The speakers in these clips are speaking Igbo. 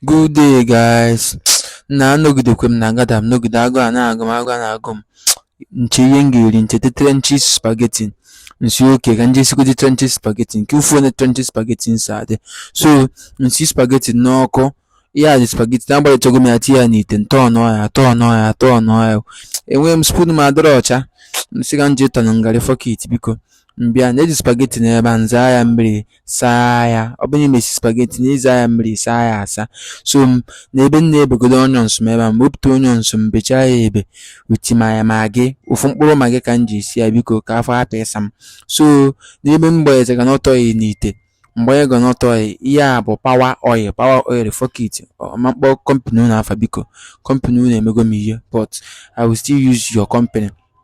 Good day guys. Na anọgidekwe m na agada m nọgide agụụ a na-agụ m agụụ a na-agụ m m chee ihe m ga-eri m cheta trenches spaghetti m sị okay ka m je sigodi trenches spaghetti nke ufu onye trenches spaghetti na-esi adị so m si spaghetti n'ọkụ ya dị spaghetti na agbajichago m ya tinye ya n'ite m turn ya turn ya turn ya enweghị m spoon m adịrọ ọcha m sị ka m ji turning garri fuck it biko m bịa na-eji spaghetti n'ebe a m zaa ya mmiri saa ya ọ bụrụ na i mesị spaghetti na ịza ya mmiri saa ya asa so n'ebe m na-ebegodo onions m ebe a m wepụta onions m bechaa ya ebe m tinye ya Maggi ofu mkpụrụ Maggi ka m ji esi ya biko ka afọ hapụ ịsa m so n'ebe m gbanyere groundnut oil n'ite m gbanye groundnut oil ihe a bụ Power Oil Power Oil fuck it ma m kpọọ company unu afa biko company unu emego m ihe but I will still use your company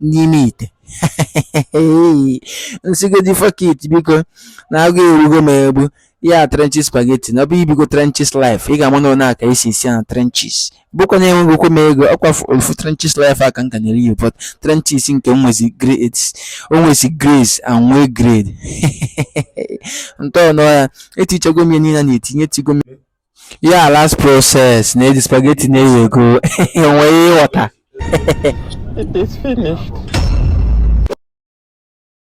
n'ime ite m sigodi fuck it biko na agụụ erugo m egbu ya trenches spaghetti na ọ bụrụ i bigo trenches life ị ga-ama na ọ na-aka esi esi na trenches bụkwa na enweghịkwa m ego ọkwa ofu trenches life a ka m ka na-eri ya but trenches nke nwezi grade o nwezi grace and nwee grade m turn ya etichago m ya niile na-etinye tigo m Ya last process na eji spaghetti na eyi ego enwe ihe ị ghọta. It is finished.